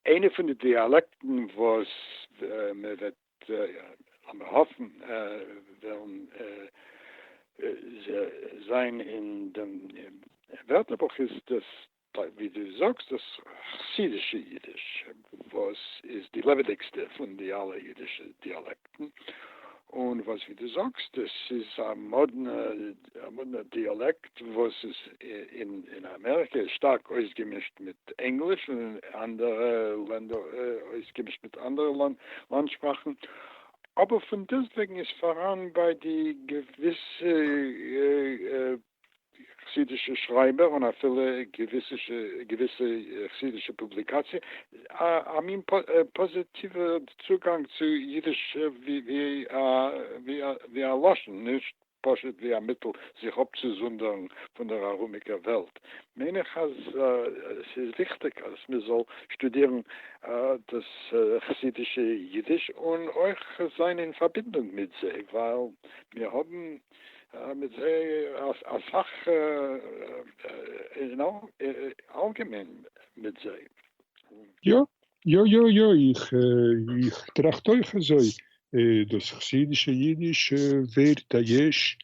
איינע פון די דיאלעקטן וואס מען וועט, לאמיר האפן, וועלן זען אין דעם ווערטערבוך איז דאס, ווי דו זאגסט, דאס חסידישע אידיש, וואס איז די לעבעדיגסטע פון די אלע אידישע דיאלעקטן. דיאלעקטן, און וואס ווי דו זאגסט עס איז א מאדנע א מאדנע דיאלעקט וואס איז אין אין אמעריקע איז שטארק אויסגעמישט מיט ענגליש און אין אנדערע לענדער אויסגעמישט מיט אנדערע לאנד שפראכן, אבער פון דעסטוועגן איז פאראן ביי די געוויסע. חסידישע שרייבער און אפילו געוויסע חסידישע פובליקאציע א מין פאזיטיווע צוגאנג צו אידיש ווי א לשון, נישט פשוט ווי א מיטל זיך אפצוזונדערן פון דער ארומיקער וועלט, מיין איך אז עס איז וויכטיג אז מען זאל שטודירן דאס חסידישע אידיש און אויך זיין אין פארבינדונג מיט זיי, ווייל מיר האבן מיט זיי אסאך אלגעמיין מיט זיי. יא יא יא יא איך איך טראכט אויך אזוי דאס חסידישע אידיש ווערט א יש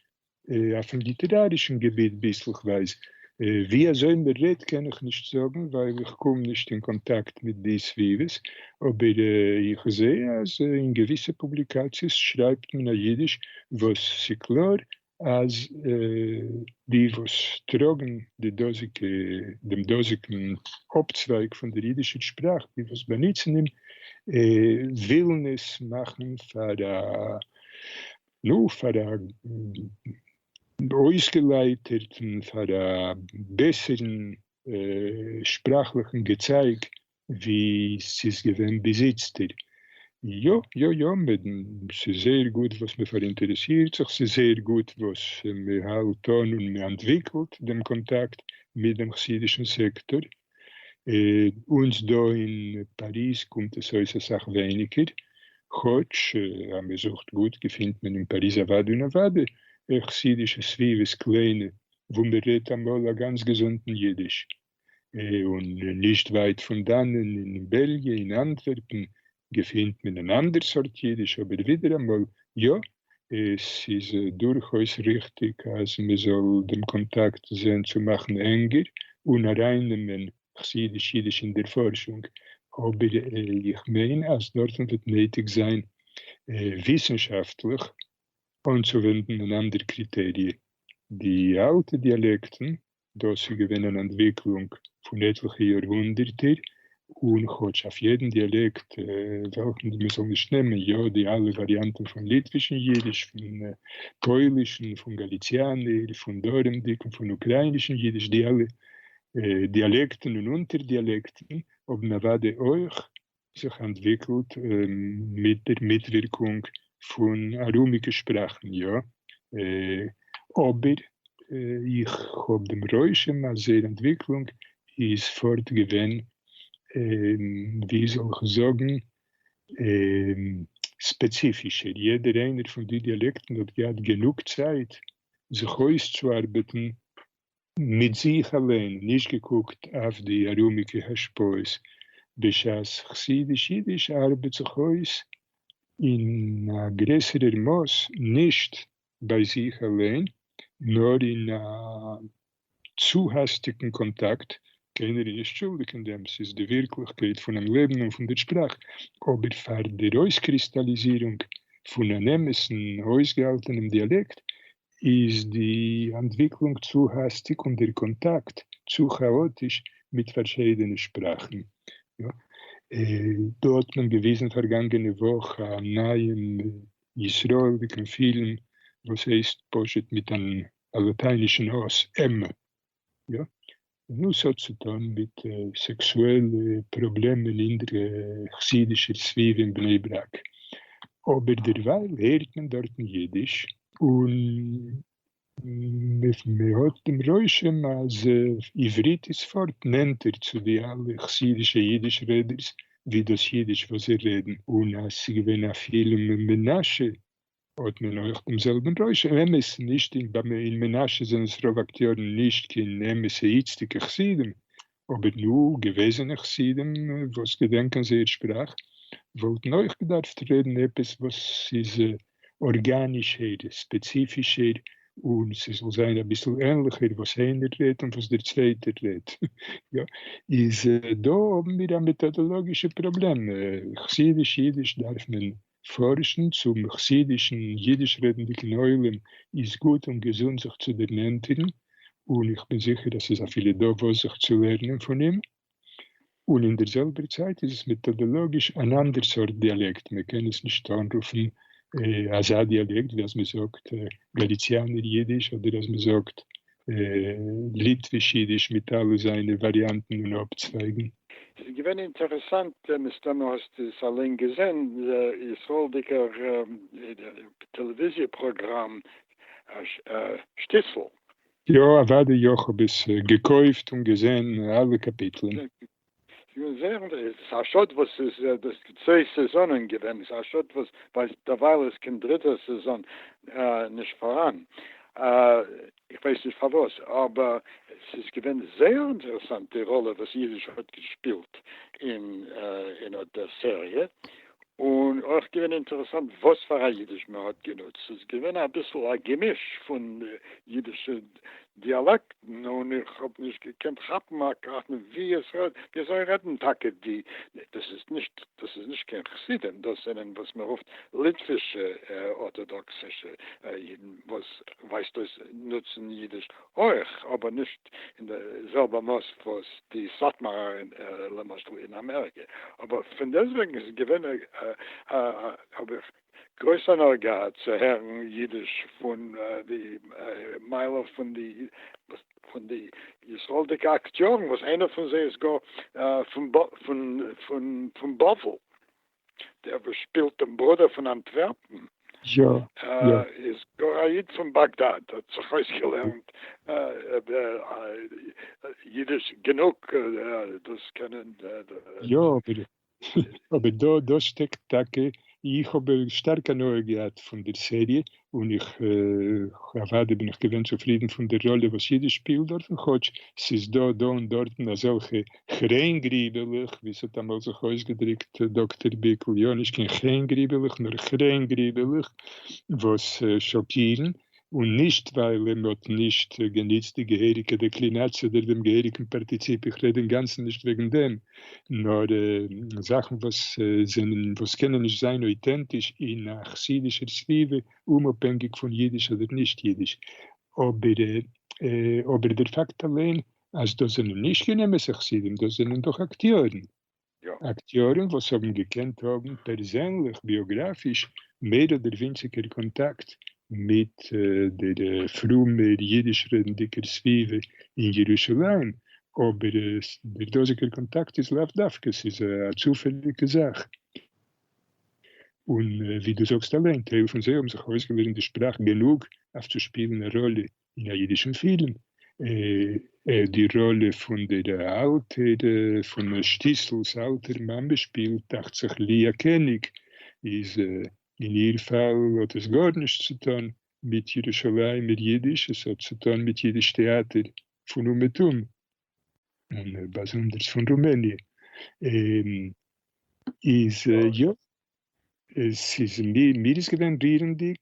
אויפן ליטערארישן געביט ביסלכווייז ווי אזוי מען רעדט קען איך נישט זאגן ווייל איך קום נישט אין קאנטאקט מיט די סביבות, אבער איך זע אז אין געוויסע פובליקאציעס שרייבט מען א אידיש וואס ס'קלאר אז די וואס טראגן די דאזיגע דעם דאזיגן אפצווייג פון דער אידישער שפראך, די וואס באנוצן אים, ווילן עס מאכן פאר א, נו, פאר א און אויסגעלייטערט און פאר א בעסערן שפראכליכן געצייג ווי ס'איז געווען ביז איצטער. יא יא יא, ס'איז זייער גוט וואס מ'פאראינטערעסירט זיך, ס'איז זייער גוט וואס מ'האלט אן און מ'אנטוויקלט דעם קאנטאקט מיט דעם חסידישן סעקטאר, אונז דא אין פאריז קומט עס אויס אסאך ווייניגער, כאטש אז מען זוכט גוט געפינט מען אין פאריז אוואדי און אוואדי חסידישע סביבות קליינע וואו מען רעדט אמאל א גאנץ געזונטן אידיש, און נישט ווייט פון דאנען אין בעלגיע אין אנטווערפן געפינט מען אן אנדער סארט אידיש, אבער ווידעראמאל יא, עס איז דורכאויס ריכטיג אז מען זאל דעם קאנטאקט זען צו מאכן ענגער און ארייננעמען חסידיש אידיש אין דער פארשונג, אבער איך מיין אז דארטן וועט נויטיג זיין וויסנשאפטליך אנצואווענדן אן אנדער קריטעריע, די אלטע דיאלעקטן דאָס איז געווען אַן אַנטוויקלונג פֿון עטלעכע יאָרהונדערטער, און כאָטש אויף יעדן דיאַלעקט, וועלכן מע זאָל נישט נעמען, יאָ, די אַלע וואַריאַנטן פֿון ליטווישן ייִדיש, פֿון פּוילישן, פֿון גאַליציאַנער, פֿון דרומדיקן, פֿון אוקראַיִנישן ייִדיש, די אַלע דיאַלעקטן און אונטערדיאַלעקטן האָבן אַוודאי אויך זיך אנטוויקלט מיט דער מיטווירקונג פון ארומיגע שפראכן, יא. אבער איך האב דעם רושם אז זייער אנטוויקלונג איז פארט געווען, ווי זאל איך זאגן, ספעציפישער. יעדער איינער פון די דיאלעקטן האט געהאט גענוג צייט זיך אויסצוארבעטן מיט זיך אליין, נישט געקוקט אויף די ארומיגע השפעות, בשעת חסידיש אידיש ארבעט זיך אויס אין א גרעסערער מאס נישט ביי זיך אליין, נאר אין א צו האסטיגן קאנטאקט, קיינער איז נישט שולדיג אין דעם, ס'איז די ווירקליכקייט פונעם לעבן און פון דער שפראך, אבער פאר דער אויסקריסטאליזירונג פון אן אמת'ן אויסגעהאלטענעם דיאלעקט איז די אנטוויקלונג צו האסטיג און דער קאנטאקט צו כאאטיש מיט פארשיידענע שפראכן? דא האט מען געוויזן פארגאנגענע וואך א נייעם ישראלדיקן פילם וואס הייסט פשוט מיט אן א לאטיינישן אויס, עמ. יא. וואס האט צו טון מיט סעקסועלע פראבלעמען אין דער חסידישער סביבה אין בני ברק. אבער דערווייל הערט מען דארטן אידיש, און מען האט דעם רושם אז עברית איז פארט נענטער צו די אלע חסידישע אידיש רעדערס ווי דאס אידיש וואס זיי רעדן, און אז ס'איז געווען א פילם מנשה. האט מען אויך דעם זעלבן רושם, אמת נישט אין ב מ, אין מנשה זענען עס רוב אקטיארן נישט קיין אמת'ע איצטיגע חסידים, אבער נו, געוועזענע חסידים וואס געדענקען זייער שפראך וואלטן אויך געדארפט רעדן עפעס וואס איז ארגאנישער, ספעציפישער, און ס'זאל זיין אביסל ענליכער וואס איינער רעדט און וואס דער צווייטער רעדט. יא, איז דא האבן מיר א מעטאדאלאגישע פראבלעם, חסידיש אידיש דארף מען פארשן צום חסידישן אידיש רעדנדיגן עולם איז גוט און געזונט זיך צו דערנענטערן, און איך בין זיכער אז ס'איז אפילו דא וואס זיך צו לערנען פון אים, און אין דער זעלבער צייט איז עס מעטאדאלאגיש אן אנדער סארט דיאלעקט, מען קען עס נישט אנרופן אזא דיאלעקט ווי אז מען זאגט גאליציאנער אידיש אדער אז מען זאגט ליטוויש אידיש מיט אלע זיינע וואריאנטן און אפצווייגן. ס'איז געווען אינטערעסאנט, מסתמא האסט עס אליין געזען, ישראל'דיגער טעלעוויזיע פראגראם שטיצל. יא אוודאי יא כ'האב עס געקויפט און געזען אלע קאפיטלען. איך בין זעהר עס איז א שאד וואס ס'איז דאס צוויי סעזאנען געווען, ס'איז א שאד וואס ביי דערווייל איז קיין דריטע סעזאן נישט פאראן, איך ווייס נישט פארוואס, אבער ס'איז געווען זעהר אינטערעסאנט די ראלע וואס איריש האט געשפילט אין אט דער סעריע, און אויך געווען אינטערעסאנט וואס פאר א אידיש מען האט גענוצט, ס'איז געווען אביסל א געמיש פון אידישע גערעדט דיאלעקטן און איך האב נישט געקענט כאפן אקארט מיט ווי עס רעדט, ווי אזוי רעדן טאקע די, דאס איז נישט, דאס איז נישט קיין חסידים, דאס זענען וואס מען רופט ליטווישע ארטאדאקסישע אידן וואס ווייזט אויס נוצן אידיש אויך, אבער נישט אין די זעלבע מאס וואס די סאטמארער למשל אין אמעריקע, אבער פון דעסטוועגן איז עס געווען א האב איך גרויס הנאה געהאט צו הערן אידיש פון די מייל אויף פון די פון די ישראלדיגע אקטיארן וואס איינער פון זיי איז גאר פון פון פון פון בבל דער וואס שפילט דעם ברודער פון אנטווערפן איז גאר א איד פון באגדאד האט זיך אויסגעלערנט אידיש גענוג דאס קענען. אבער דא דא שטעקט טאקע, איך האב שטארק הנאה געהאט פון דער סעריע, און איך אוודאי בין איך געווען צופרידן פון דער ראלע וואס אידיש שפילט דארטן, כאטש ס'איז דא דא און דארטן אזעלכע חרעין גריבעלעך, ווי ס'האט אמאל זיך אויסגעדרוקט דאקטער ביקל, יא, נישט קיין חרעין גריבעלעך, נאר חרעין גריבעלעך, וואס שאקירן, און נישט ווייל מען האט נישט גענוצט די געהעריגע דעקלינאציע אדער דעם געהעריגן פארטיציפ, איך רעד אינגאנצן נישט וועגן דעם, נאר זאכן וואס זענען וואס קענען נישט זיין אויטענטיש אין א חסידישער סביבה, אומאפהענגיג פון אידיש אדער נישט אידיש. אבער אבער דער פאקט אליין אז דאס זענען נישט קיין אמת'ע חסידים, דאס זענען דאך אקטיארן. אקטיארן וואס האבן געקענט האבן פערזענליך ביאגראפיש מער אדער ווינציגער קאנטאקט מיט דער פרומער יידיש-רעדנדיקער סביבה אין ירושלים, אבער דער דאזיגער קאנטאקט איז לאו דווקא, ס'איז א צופעליגע זאך, און ווי דו זאגסט אליין, טייל פון זיי האבן זיך אויסגעלערנט די שפראך גענוג אויף צו שפילן א ראלע אין א אידישן פילם, אה, די ראלע פון דער אלטער, פון שטיסל'ס אלטער מאמע שפילט, דאכט זיך, ליה קעניג, איז אין איר פאל האט עס גארנישט צו טון מיט ירושלימ'ער אידיש, עס האט צו טון מיט אידיש טעאטער פון אומעטום, און באזונדערס פון רומעניע, איז יא. עס איז מיר איז געווען רירנדיג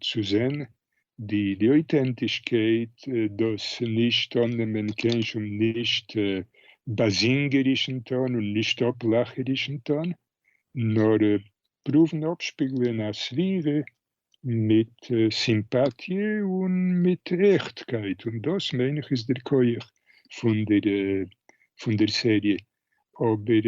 צו זען די אויטענטישקייט, דאס נישט אננעמען קיין שום נישט באזינגערישן טאן און נישט אפלאכערישן טאן, נאר פרואוון אפשפיגלען א סביבה מיט סימפאטיע און מיט עכטקייט, און דאס מיין איך איז דער כח פון דער סעריע, אבער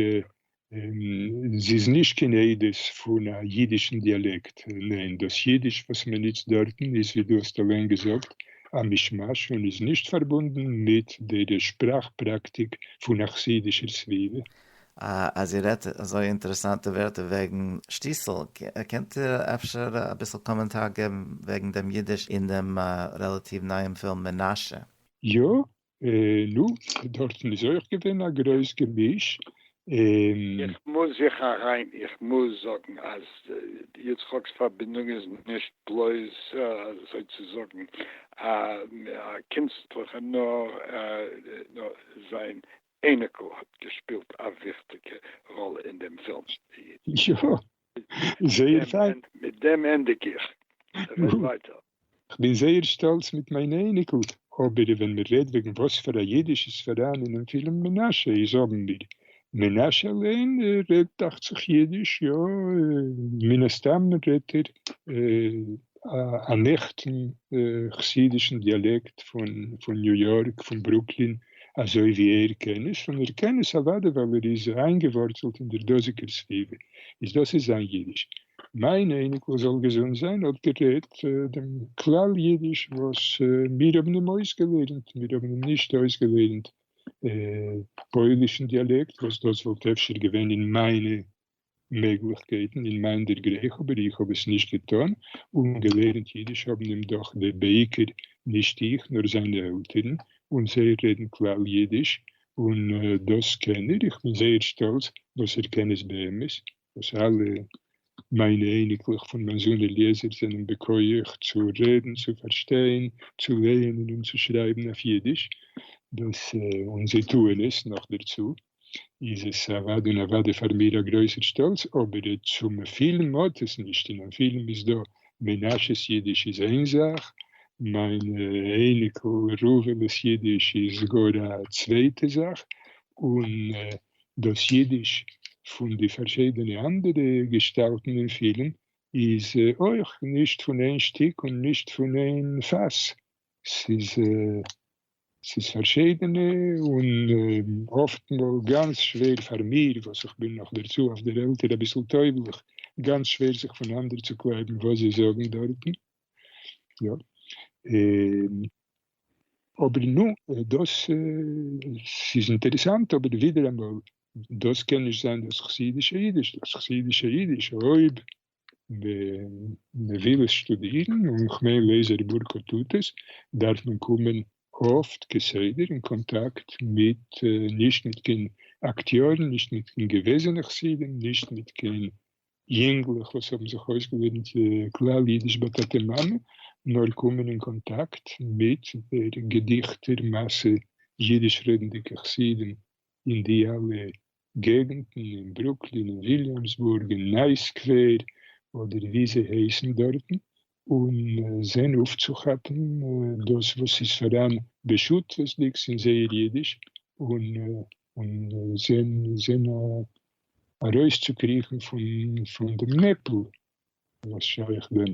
זי איז נישט קיין עדות פון א אידישן דיאלעקט, ניין, דאס אידיש וואס מען נוצט דארטן איז ווי דו האסט אליין געזאגט א מישמאש און איז נישט פארבונדן מיט דער שפראך פראקטיק פון א חסידישער סביבה. אה, אז איר רעדט אזוי אינטערעסאנטע ווערטער וועגן שטיסל, קענט איר אפשר אביסל קאמענטאר געבן וועגן דעם אידיש אין דעם רעלאטיוו נייעם פילם מנשה? יא, נו, דארטן איז אויך געווען א גרויס געמיש, און. איך מוז זיך אריין, איך מוז זאגן אז יצחק'ס פארבינדונג איז נישט בלויז אזוי צו זאגן א קינסטליכע, נאר זיין אייניקל האט געשפילט א וויכטיגע ראלע אין דעם פילם. יא, זייער פיין. מיט דעם ענדיג איך. רעד ווייטער. כ'בין זייער שטאלץ מיט מיין אייניקל, אבער ווען מען רעדט וועגן וואס פאר א אידיש איז פאראן אינעם פילם מנשה איז האבן מיר. מנשה אליין רעדט דאכצעך אידיש, יא, מן הסתם רעדט ער אן עכטן חסידישן דיאלעקט פון ניו יארק, פון ברוקלין. אזוי ווי ער קען עס, און ער קען עס אוודאי ווייל ער איז איינגעווארצלט אין דער דאזיגער סביבה, איז דאס איז זיין אידיש. מיין אייניקל זאל געזונט זיין האט גערעדט דעם כלל אידיש וואס מיר האבן אים אויסגעלערנט, מיר האבן אים נישט אויסגעלערנט פוילישן דיאלעקט, וואס דאס וואלט אפשר געווען אין מיינע מעגליכקייטן אין מיין דערגרייך אבער איך האב עס נישט געטאן און געלערנט אידיש האבן אים דאך די בעיקר נישט איך נאר זיינע עלטערן און זיי רעדן כלל אידיש און דאס קען ער איך בין זייער שטאלץ וואס ער קען עס באמת וואס אלע מיינע אייניקלעך פון מיין זון אליעזר זענען בכח צו רעדן צו פארשטיין צו לייענען און צו שרייבן אויף אידיש דאס און זיי טוען עס נאכדערצו איז עס אוואדי און אוואדי פאר מיר א גרויסער שטאלץ, אבער צום פילם האט עס נישט, אינעם פילם איז דא מנשה'ס אידיש איז איין זאך, מיין אייניקל ראובן'ס אידיש איז גאר א צווייטע זאך, און דאס אידיש פון די פארשידענע אנדערע געשטאלטן אין פילם איז אויך נישט פון איין שטיק און נישט פון איין פאס, ס'איז ס'איז פארשידענע און אפט מאל גאנץ שווער פאר מיר וואס איך בין נאך דערצו אויף דער עלטער אביסל טויבלעך, גאנץ שווער זיך פונאנדער צו קלייבן וואס זיי זאגן דארטן. יא. און אבער נו, דאס ס'איז אינטערעסאנט אבער ווידעראמאל דאס קען נישט זיין דאס חסידישע אידיש. דאס חסידישע אידיש אויב מען וויל עס שטודירן און כ'מיין לעזער וואורקער טוט עס, דארף מען קומען אפט כסדר אין קאנטאקט מיט, נישט מיט קיין אקטיארן, נישט מיט קיין געוועזענע חסידים, נישט מיט קיין יונגלעך וואס האבן זיך אויסגעלערנט כלל אידיש ביי טאטע מאמע, נאר קומען אין קאנטאקט מיט דער געדיכטער מאסע אידיש רעדנדיגע חסידים אין די אלע געגנטן אין ברוקלין און וויליאמסבורג און ניי סקווער אדער ווי זיי הייסן דארטן און זען אויפצוכאפן דאס וואס איז פאראן בשותפות'דיגס אין זייער אידיש און זען ארויסצוקריכן פון דעם נעפל וואס שייך דען